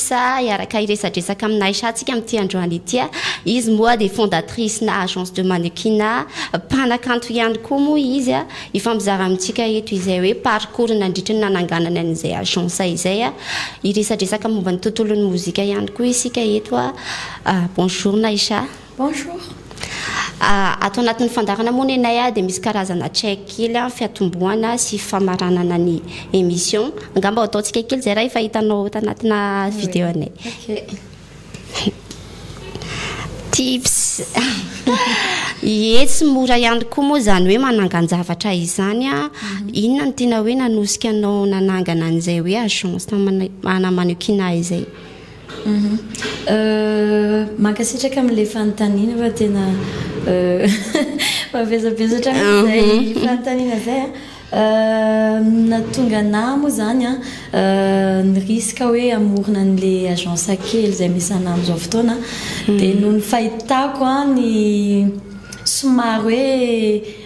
Sa hiaraka hiresadresaka amin'i Naisha tsika amin'ity androany ity a. Izy moa dia fondatrice-na agence de mannequinat, mpanakanto ihany koa moa izy a. Hifampizara amintsika eto izay hoe parcours nandritry ny nananganany an'izay agence izay a. Hiresadresaka momba ny tontolon'ny mozika ihany koa isika eto a. Bonjour Naisha. Bonjour. Ato anatin'ny fandaharana moa nenay dia misy karazana check kely fiatombohana sy famaranana ny émission. Angamba ataontsika kely izay raha efa hitanao ato anatina vidéo anay. Tips. Ie tsy mora ihany koa moa izany hoe manangan-javatra izany a. Mhm. Inona no tena hoe nanosika anao nanangana an'izay hoe agence manamaniokina izay? Mankasitraka amin'ilay fanontaniana fa tena mavesabesatra amin'izay fanontaniana izay an. Ny nahatonga anah moa izany an, ny risque hoe hamorona an'ilay agence kely izay misy anah amin'izao fotoana an, dia noho ny fahitako ny somary hoe,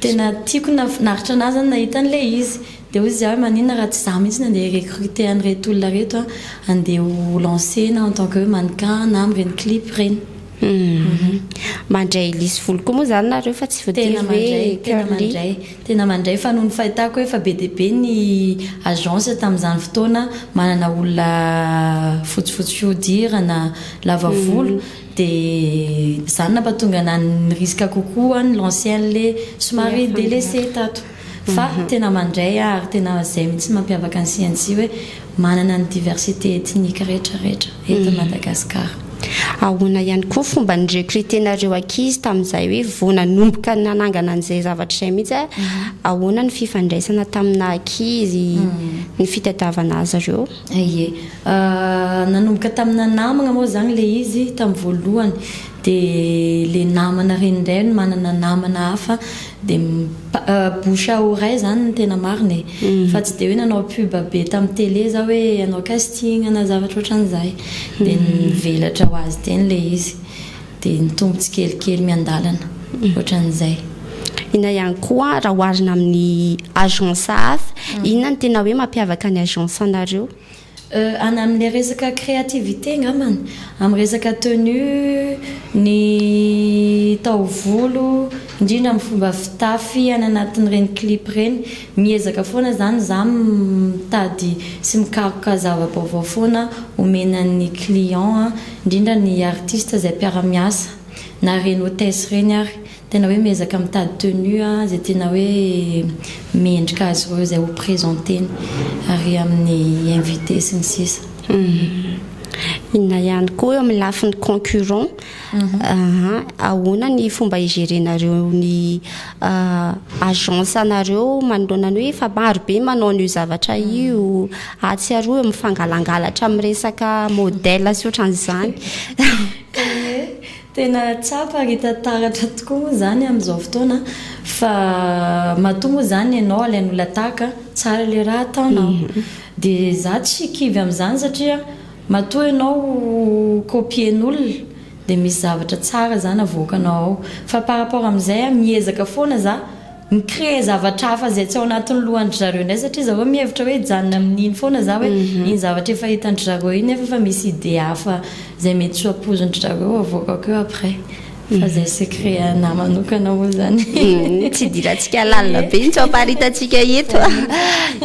Tena tiako nahafinaritra anah zany nahita an'ilay izy. Dia hoy izy ahy hoe maninona raha tsy za mihitsy no andeha hi-recruter an'ireto olona reto an, andeha ho lancer-na en tant que hoe mannequin na amin'ireny clip ireny. Mandray lisy volo koa moa izany nareo fa tsy voatery hoe curly. Tena mandray, tena mandray. Tena mandray fa noho ny fahitako hoe efa be dia be ny agence tamin'izany fotoana manana olona fotsifotsy fihodirana, lava volo, Dia izany nampatonga nahy nirisika kokoa ny l'ancien le somary delaissé tato. Fa tena mandray aho ary tena izay mihitsy mampiavaka ny CNC hoe manana ny diversité ethnique rehetra rehetra eto Madagascar. Ahoana ihany koa fomba ny recruter nareo ankizy tamin'izay hoe vao nanomboka nanangana an'izay zavatra izay mihitsy a, ahoana ny fifandraisana taminà ankizy, ny fitadiavana azy ireo? Ie. Nanomboka tamina namagna moa zany le izy tamin'ny voalohany de le namana reny indray no manana namana hafa de bouche à oreille zany no tena marina e, fa tsy de hoe nanao pub be tamin'ny tele za hoe hanao casting na zavatra otran'izay de nivelatra ho azy teny le izy. Dia ny tombo tsikelikely miandalana, ohatran'izay. Inona ihany koa raha oharina amin'ny agence hafa, inona no tena hoe mampiavaka ny agence anareo? Any amin'ilay resaka créativité angambany, amin'ny resaka tenue, ny taovolo, indrindra amin'ny fomba fitafy any anatin'ireny clip ireny. Miezaka foana zany za mitady sy mikaroka zava-baovao foana omena ny client an, indrindra ny artiste zay mpiara-miasa na reny hotesse reny ary tena hoe miezaka mitady tenue a zay tena hoe mendrika azy ireo zay ho presenteny ary amin'ny invite sy ny sisa. Inona ihany koa eo amin'ny lafiny concurrent Mhm. Aha, ahoana ny fomba higerenareo ny ah, agence anareo manoloana ny hoe efa maro be manao an'io zavatra mhm. io atsiaro eo mifangalangalatra amin'ny resaka modèle sy ohatran'izany tena tsapa ry tantaratra tokoa moa zany amin'izao fotoana fa matoa moa zany ianao alain'olona tahaka tsara le raha ataonao mhm. dia za tsy kivy amin'izany satria Matoa ianao ho copien'olona dia misy zavatra tsara zany avoakanao ao. Fa par rapport amin'izay a, miezaka foana za mi-créer zavatra hafa izay tsy ao anatin'ny lohan-dry zareo indray satria zareo mihevitra hoe hijanona amin'iny foana za hoe iny zavatra efa hitan-dry zareo iny nefa efa misy idée hafa izay mety tsy ho ampoizin-dry zareo avoakako eo après. Fa izay secret anah manokana moa izany. Tsy idirantsika lalina be intsony fa ary hitantsika eto.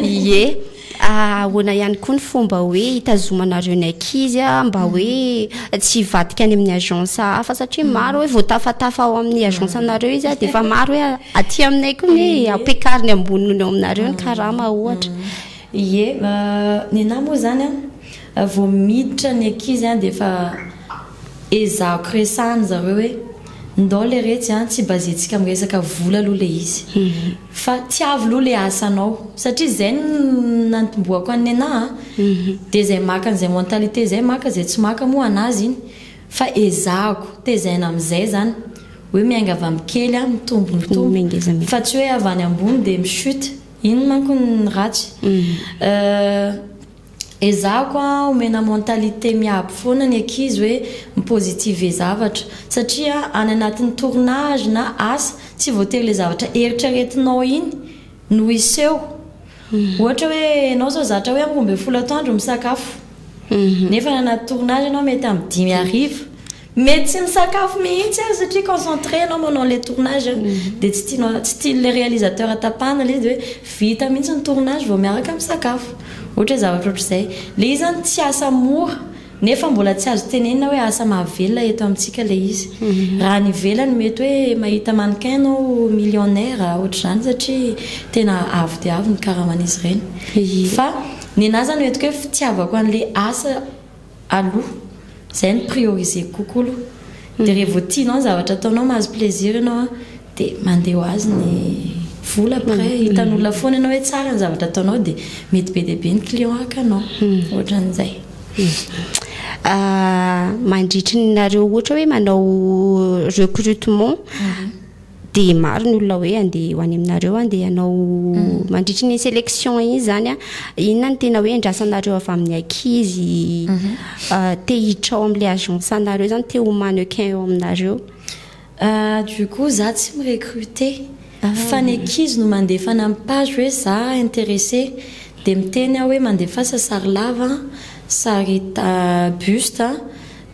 Ie. Ahoana ihany koa ny fomba hoe hitazomanareo ny ankizy mba hoe mm. tsy hivadika any amin'ny agence hafa satria mm. maro hoe voatafatafa ao amin'ny agence mm. anareo izy dia efa maro hoe aty aminay koa ny ampiakariny amboniny eo aminareo ny karama ohatra. Ie, ny nahy moa izany a, vao miditra ny ankizy a dia efa ezahako resahany zareo hoe ndao le retsy a tsy bazentsika amin'ny resaka vola aloha le izy. Mhm. Fa tiavo loha le asanao. Satria zay no nantomboako an'i Nenah a. Dia zay maka an'izay mentalité zay maka, zay tsy maka moa anazy iny. Fa ezahako tezaina amizay zany. Hoe miainga avy amin'ny kely a, mitombo mitombo. Fa tsy hoe avy any ambony dia mi-chute. Iny manko no ratsy. Ezahako a omena mentalité miabo foana ny ankizy hoe mi-positiver zavatra satria any anatin'ny tournage na asa tsy voatery le zavatra eritreretinao iny no hiseho. Ohatra hoe enao zao zatra hoe roa ambin'ny folo atoandro misakafo nefa any anaty tournage enao mety amin'ny dimy hariva. Mety tsy misakafo mihitsy aza satria concentré ianao manao le tournage dia tsy tianao tsy tian'ilay réalisateur tapahana ilay izy dia hoe vita mihitsy ny tournage vao miaraka misakafo. Ohatra hoe zavatra ohatr'izay. Ilay izy zany tsy asa mora nefa mbola tsy azo tenenina hoe asa mahavelona eto amintsika ilay izy. Raha any ivelany mety hoe mahita mannequin ianao millionnaire ohatr'izany satria tena avo dia avo ny karaman'izy ireny. Fa ny anà izany entiko hoe fitiavako an'ilay asa aloha, zay no prioriser-ko kokoa aloha, de re vao tianao ny zavatra ataonao, mahazo plaisir ianao an, de mandeha ho azy ny vola, après hitan'olona foana ianao hoe tsara ny zavatra ataonao de mety be dia be ny client hakanao, ohatran'izay. Mandritry ny nareo ohatra hoe manao recrutement, dia maro ny olona hoe andeha ho any aminareo an dia ianao mm. mandritry ny sélection iny zany a inona ny tena hoe endrasanareo avy amin'ny akizy mhm. ah, te hitrao amin'la agence anareo zany te ho manequin eo aminareo ah, du coup za tsy mirecrute ah. fa ny akizy no mandefa ny amin'ny page hoe za intéressé dia miteny aho hoe mandefasa sary lava sary buste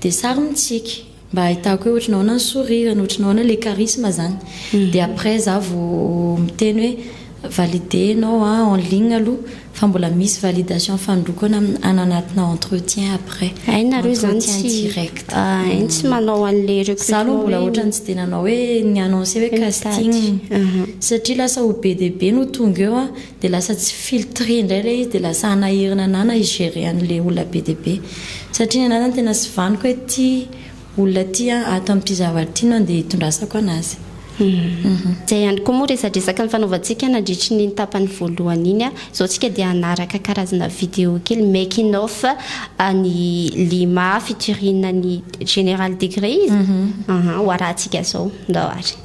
dia sary mitsiky Mba ahitako hoe ohatry ny ahoana ny sourire-ny, ohatry ny ahoana le charisme zany. Dia après za vao miteny hoe valider enao en ligne aloha fa mbola misy validation fanondroko eo hananatina entretien après. Hay nareo izany tsy, entretien direct. Hay ny tsy manao an'le recrutement hoe. Za aloha mbola ohatran'ny tsy dia nanao hoe ni-annoncer hoe casting. Satria lasa ho be dia be no tonga eo dia lasa tsy filtre indray ilay izy dia lasa hanahirana anah na hi-gerer an'ilay olona be dia be satria ny anah zany tena tsy vaniko hoe ity olona ity an ato amin'ity zavatra ity no andeha hitondrasako an'azy. Izay ihany koa moa resadresaka nifanaovantsika nandritry ny tapany voalohany iny an, izao tsika dia hanaraka karazana video kely making off an'i Lima featuring an'i General Degree izy, ho arahantsika izao ndao ary.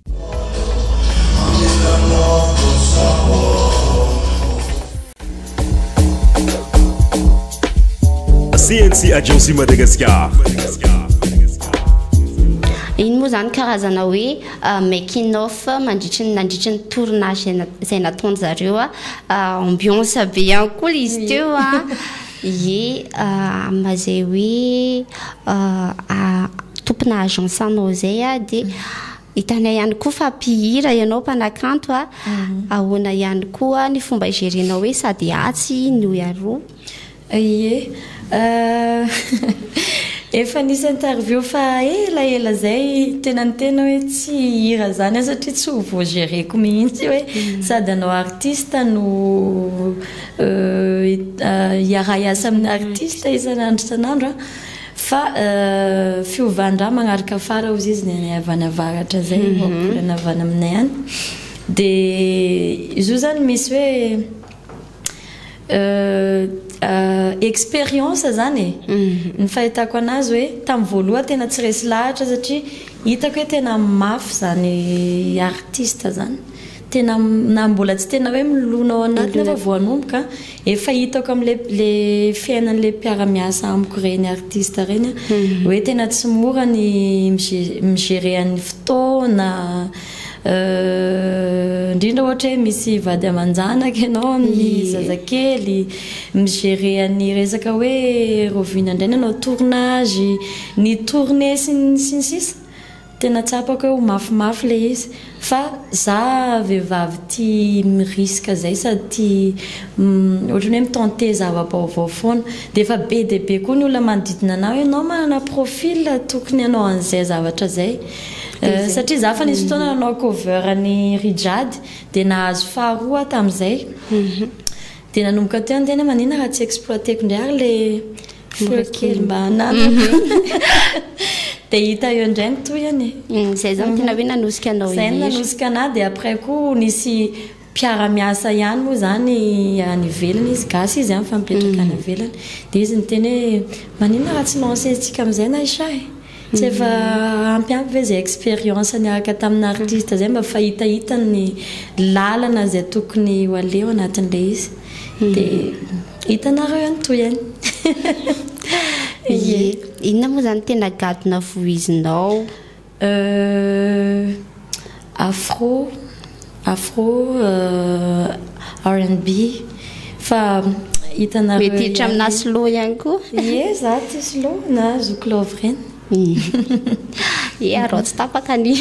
CNC Agency Madagascar. Iny moa zany karazana hoe euh, making off mandritry ny nandritry ny tournage izay nataony zareo a euh, ambiance be ihany koa izy teo a Ie amina izay hoe tompona agence anao izay aho dia hitanay ihany koa fa mpihira ianao mpanakanto a mhm. ahoana ihany koa ny fomba igerenao hoe sady atsy ny oy aroa ie euh, efa nisy interview fa ela ela zay tena ny tena hoe tsy hira zany a satria tsy ho voagereko mihitsy hoe mhm. sady anao artiste no Hiara-hiasa amin'ny artista isan'andro isan'andro fa fiovandraha magnaraka fara ozy izy ny anay avy any avaratra zay vao volana avy any aminay any de izy io zany misy hoe expérience zany e ny fahitako anazy hoe tamin'ny voalohany tena tsy resy lahatra satria hitako hoe tena mafy zany artista zany tena na mbola tsy tena hoe milona ao anatiny aho fa vao hanomboka efa hitako amin'le le fiainan'le mpiara-miasa amiko ireny artiste ireny a mhm. hoe tena tsy mora ny mi-gérer an'ny fotoana euh, indrindra ohatra hoe misy vady aman-janaka ianao amin'ny zazakely mi-gérer an'ny resaka hoe rovina indray nanao tournage ny tournée sy ny sisa Tena tsapako eo mafy mafy le izy fa za vehivavy tia mi risque zay sady tia ohatran'ny hoe mi tenter zava-baovao foana dia efa be dia be koa ny olona manodidina anah hoe enao manana profil tokony hanao an'izay zavatra zay satria za efa nisy fotoana nanao cover ny rijade dia nahazo faharoa aho tamin'izay dia nanomboka teo ny tena hoe manina raha tsy exploiter-ko indray ary le Mora kely mba hananako. Dia hita eo indray ny tohiny e. Mm, izay izany tena hoe nanosika anao Izay irery. nanosika anah dia après koa nisy mpiara-miasa ihany moa izany any ivelany izy, gasy izy an, fa mipetraka any ivelany. Dia izy niteny hoe maninona raha tsy lancer-ntsika amin'izay Naïcha e. Tsy efa ampy aby ve zay expérience niaraka tamina artiste zay mba fahitahitany ny lalana zay tokony ho aleo anatin'ilay izy de hitanareo eo ny tohiny ye. Inona moa zany tena gadona vohizinao? Euh. Afro, afro, RNB, fa hitanareo ihany. Mety hiditra aminà slow ihany koa. Ie, za tia slow na zoky love ireny. Ie, arao tsy tapaka ny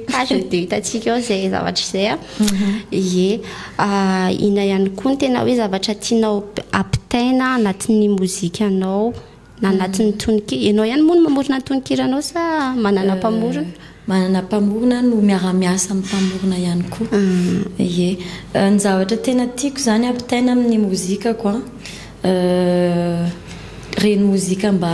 page dia hitantsika eo izay zavatra izay a. Mhm. Ie, inona ihany koa no tena hoe zavatra tianao ampitaina anatin'ny mozikanao? Na anatin'ny tononkira. Ianao ihany moa no mamorona ny tononkiranao sa manana euh, mpamorona? Manana mpamorona no miara-miasa amin'ny mpamorona ihany koa. Ah. Ie. Euh, ny zavatra tena tiako izany ampitaina amin'ny mozikako an. Euh, reny mozika mba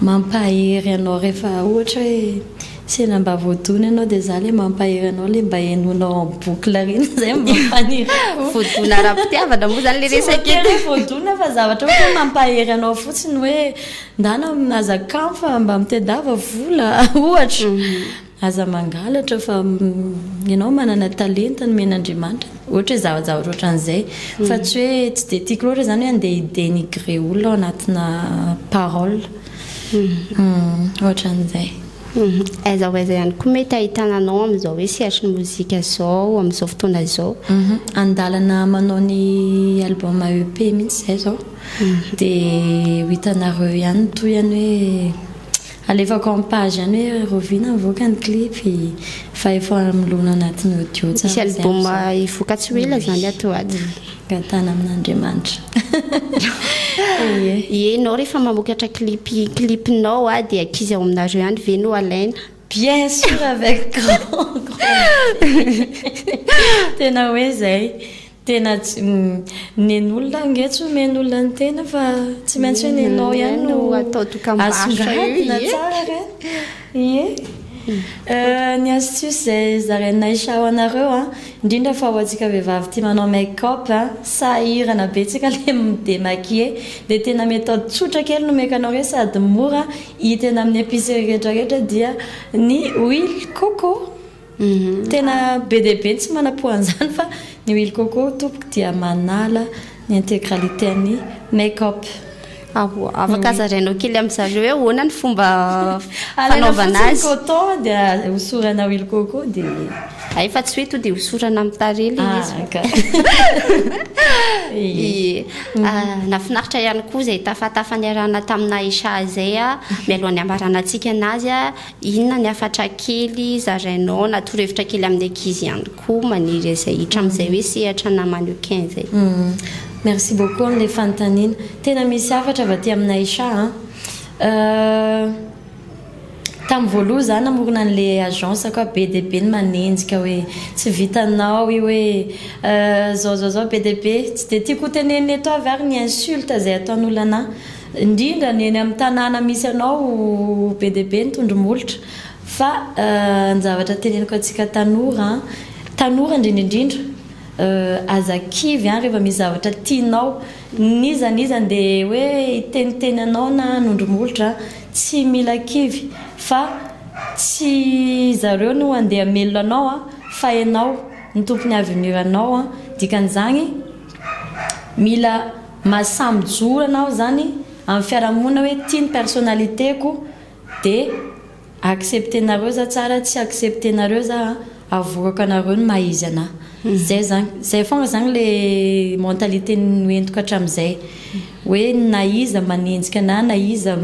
mampahery anao rehefa ohatra hoe Sela mba voadona ianao dia za le mampahery anao le mba henoinao en boucle ry na zay mampanerafo. Voadona ara-pitiavana moa zany le resaka eto. Tsy voatery hoe voadona fa zavatra ohatra hoe mampahery anao fotsiny hoe ndana aza kamo fa mba mitedava vola ohatra. Aza mangalatra fa ianao manana talenta nomen'Andriamanitra ohatra hoe zava-javatra ohatran'izay fa tsy hoe tsy dia tiako loatra zany hoe andeha hi-denigrer olona ao anatina parole. Humm ohatran'izay. Aiza ho aiza ihany koa mety ahitana anao amin'izao hoe sehatry ny mozika izao amin'izao fotoana izao? An-dalana manao ny album EP mihitsy izahay izao dia ho hitanareo ihany ny tohiny hoe alefako en page ihany hoe rahoviana mivoaka ny clip fa efa milona anatin'ny audio tsara izay amin'izao. Misy album hivoaka tsy ho ela izany ato ho ato. Gatana amin'Andriamanitra. Ye nao rehefa mamokatra clip clip nao a dia ankizy ao aminareo ihany ve no alaina? Bien sûr avec grand Tena hoe zay. Tena nen'olona ange tsy omen'olona ny tena fa tsy maintsy hoe nenao ihany no asongadina tsara re. Ie eh, ny astuce izay zarainay sha ho anareo an, indrindra fa ho antsika vehivavy tia manao make up an, sahirana betsaka le mi-demaquiller, dia tena méthode tsotra kely no omeko anao re sady mora hita eny amin'ny epicerie rehetra rehetra dia ny huile coco. Tena be dia be ny tsy manam-po an'izany fa ny huile coco tompoko dia manala ny integralité an'ny make up. Ahoa, afaka zarainao kely amin-dry zareo hoe ahoana ny fomba fanaovana azy? Alaina fotsiny coton dia hosorana huile coco dia. Hay fa tsy hoe to dia hosorana amin'ny tarehy ilay izy. Ah, ka. Ie. Nahafinaritra ihany koa izay tafatafa niarahana tamin'i Naïcha izay mialohan'ny hambarana antsika anazy. Inona ny hafatra kely zarainao na torohevitra kely amin'ny ankizy ihany koa maniry izay hiditra amin'izay hoe sehatra na mannequin izay? Merci beaucoup amin'ilay fanontaniana. Tena misy hafatra avy aty amin'i Aisha an. Tamin'ny voaloha za namorona an'ilay agence-ko aho be dia be ny manenjika hoe tsy vitanao io hoe zao zao zao be dia be. Tsy dia tiako hotenenina eto avy ary ny insulte izay ataon'olona anah. indrindra ny eny amin'ny tanàna misy anao be dia be ny tondromolotra fa ny zavatra teneniko antsika tanora an, tanora indrindra indrindra aza kivy an rehefa misy zavatra tianao n'iza n'iza andeha hoe hiteniteny anao na hanondromolotra an, tsy mila kivy fa tsy zareo no andeha hamelona anao an fa ianao no tompon'ny avenir anao an, dikan'izany mila Maha samy zoro anao izany amin'ny fiarahamonina hoe ity ny personnalité-ko dia accepter-nareo za tsara tsy accepter-nareo za a, avorako anareo ny maha izy anah. Izay izany, izay foana izany ilay mentalité noentiko hatramin'izay. Hoe na iza manenjika anah na iza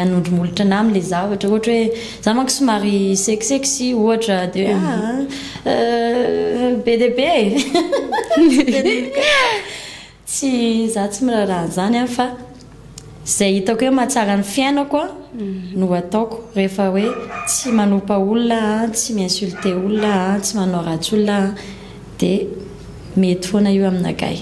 hanondro molotra anah amin'ilay za ohatra, ohatra hoe za manko somary sexy sexy ohatra dia hoe aa be dia be e! Tsy za tsy miraharaha an'izany an fa izay hitako hoe mahatsara ny fiainako no ataoko rehefa hoe tsy manopa olona an, tsy mi insulter olona an, tsy manao ratsy olona an dia mety foana io aminagahy.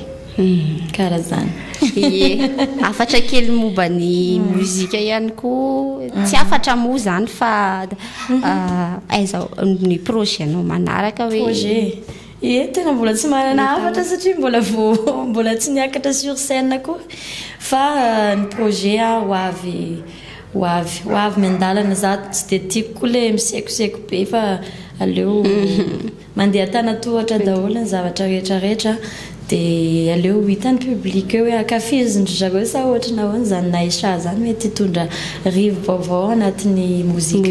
Kara zany. Ie, hafatra kely momba ny mozika ihany koa. Tsy hafatra moa zany fa mhm. ah, aiza ny projet-nao manaraka hoe? Projet. Ye, tena mbola tsy manana hafatra satria mbola vao mbola tsy niakatra sur scène koa fa ny projet a ho avy ho avy ho avy miandalana za tsy dia tiako koa le misekoseko be fa aleo mandeha an-tanatohatra daholo ny zavatra rehetra rehetra dia aleo hitan'ny public eo hoe ankafizin-dry zareo sa ohatry ny ahoana zany Naïcha zany mety hitondra rivo-baovao anatin'ny mozika.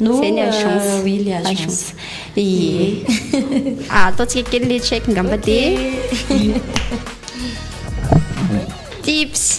No Zay ny agence. euh, oui, le agence. Agence. Ie. Ah, ataontsika kely le check ngamba Ok. dia tips